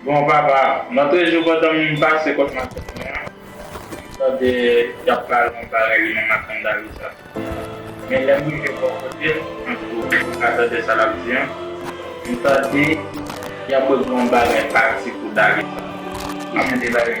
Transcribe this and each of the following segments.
Bon papa, mwen toujou kontan m pase kot madanm mwen an, m tande y ap pale yon bagay li menm ak Andalisa. Men lè m rive bò kote l, tankou m ka tande sa l ap di an, m tande y ap regle yon bagay pati pou Dalisa. Ki jan de bagay?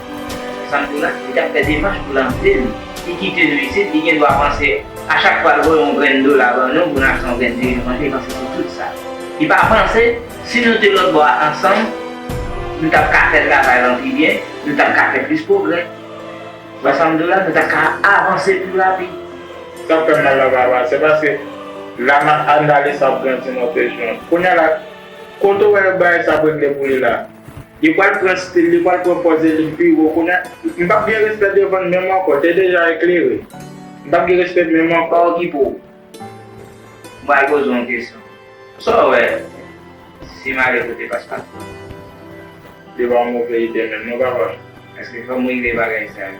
Sa pou la? Li tap fè demach pou l antre l. Li kite nou isit, li gen dwa panse a chak fwa l voye yon grenn dola ban nou pou n achte yon grenn diviz manje, li panse se tout sa. Li pa panse, si nou te lòtbò a ansanm, nou tap ka fè travay lan pi byen, nou tap ka fè plis pwogrè. Wè sa m di w la? Nou tap ka avanse pi rapid. Sa k fè mal la papa, se paske la ma Anna Lisa ap grandi nan presyon. Kounya la, kote w wè bagay sa ap regle pou li la? Li pwal pran stil li pwal pran pòz e li pi wo kounye m pap gen respè devann menm ankò te deja eklere m pap gen respè menm ankò. Sa okipe w? M pral poze w yon kesyon. Sa w wè si m ale kote paspatò? Li pa yon move ide menm non papa m. Eske fò m regle bagay sa yo?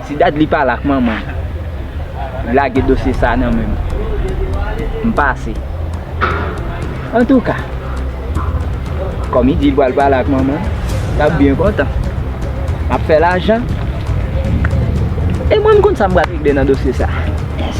Si dadly pale ak manman li lage dosye sa nan menm m pase antouka kòm li di li pral pale ak manman li lap byen kontan lap fè lajan e mwen m konn sa m pral regle nan dosye sa yes.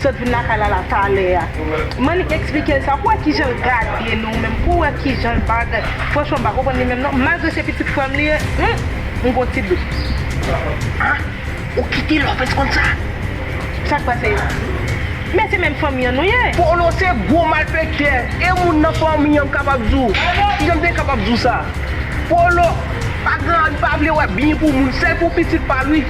Sot vin lakay lala talè a. Manik esplike l sa pou wè kijan l gade nou menm pou wè kijan l bagay franchman m pa konprann li menm non malgre se pitit frè m li ye humm m gon ti dout. Ha ou kite lòpèz konn sa. Sak pase men se menm fanmi an nou ye. Polo se gwo malfektè e moun nan fanmi an m kapab di w kijan m te kapab di w sa polo pa gen li pa vle wè byen pou moun sèl pou pitit pa l wi.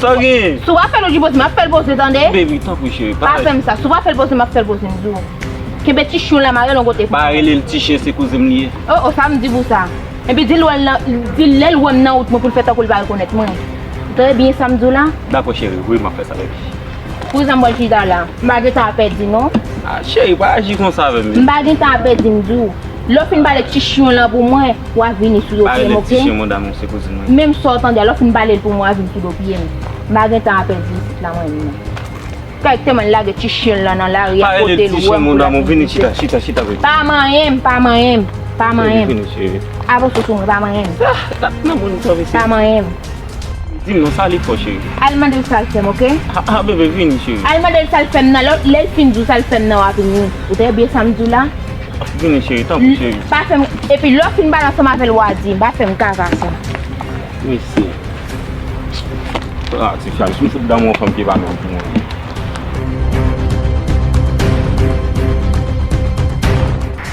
Sa genyen? Si w pa fè l ou di poze m ap fè l poze tande. Baby tanpri cheri pa fè sa. Pa fè m sa. Si w pa fè l poze m ap fè l poze m di w. Kenbe ti chyen w la mare l yon kote pou mwen. Pa rele l ti chyen se kouzen m li ye. Oh oh sa m di pou sa. Epi di l wè l nan di l lè l wè m nan wout mwen pou l fè tankou l pa rekonèt mwen. Ou tande byen sa m di w la? Dakò cheri wi m ap fè sa baby. Pou zan m wè l chita la. M pa gen tan a pèdi non. Ah cheri pa aji konsa avè m. M pa gen tan a pèdi m di w. Lè w fin pale ti chyen w lan pou mwen. Wap vini sou do pyem ok. Menm sa w tande a lè w fin pale l pou mwen wap vini sou do pyem. M pa gen tan a pèdi isit la mwen menm. Kèk temwen lage ti chyen l lan nan lari a pote l wè m pou lap vin kouche. Pa manyen m, pa manyen m, pa manyen m. Avanse sou mwen pa manyen m. Pa manyen m. Al mande l sa l fè m ok. Al mande l sa l fè m nan lè l fin di w sa l fè m nan wap vini. Ou tande byen sa m di w la? Ap vini cheri, tanpri cheri. M pa fèm, epi lè w fin pale ansanm avè l wa di, m pa fèm kaka sa. Mesi. Ah ti fi a, m fout damou yon fanm ki pa menm pou mwen.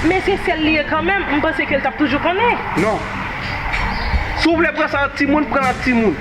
Men se sèl li ye kanmenm, m panse ke l t ap toujou konnen. Non. Si w vle pran sa ak timoun, pran l ak timoun.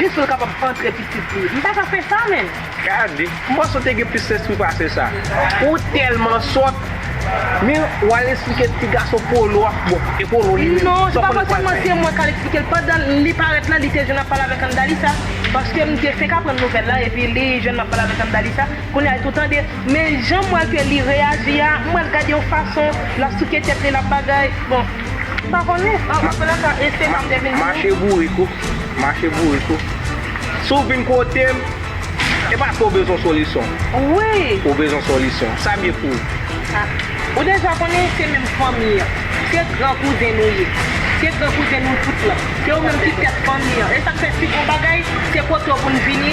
Jis pou l kapab antre pitit li. M pa ka fè sa menm. Gade, m panse w te gen plis lespri pase sa. Ou tèlman sòt. Men, w al esplike ti gason Polo a. Bon, e Polo li menm, sa w konnen l pral fè? Non, se pa fòseman se mwen k al esplike l. Pandan li parèt la, li te jwenn ap pale avèk Andalisa. Paske m te fenk aprann nouvèl la, epi li jwenn m ap pale avèk Andalisa. Kounye a, epi w tande. Men, jan m wè ke li reyaji a, m wè l gade yon fason, l ap souke tèt li, l ap bagay. Bon. Mache bourik ou, mache bourik ou Si w vin kote m, e paske w bezwen solisyon Ou bezwen solisyon, sa byen pou ou Ou deja konnen se menm fanmi an Se gran kouzen nou ye Se gran kouzen nou tout lan Se ou menm ki tèt fanmi an E sa k fè si gon bagay, se kote w pou n vini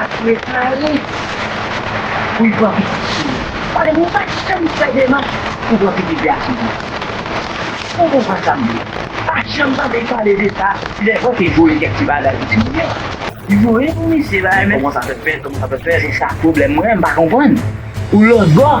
ak refael pou ypran pitit sou yo pale mwen pa janm fè demach pou pran pitit de asoud non ou konprann sam di a pa janm tande yo pale de sa lè bon te voye kèk ti bagay pou ti moun yo. Voye pou misye bagay men. Koman sa fè fèt koman sa fè fèt se sa pwoblèm mwen mpa konprann ou lòtbò.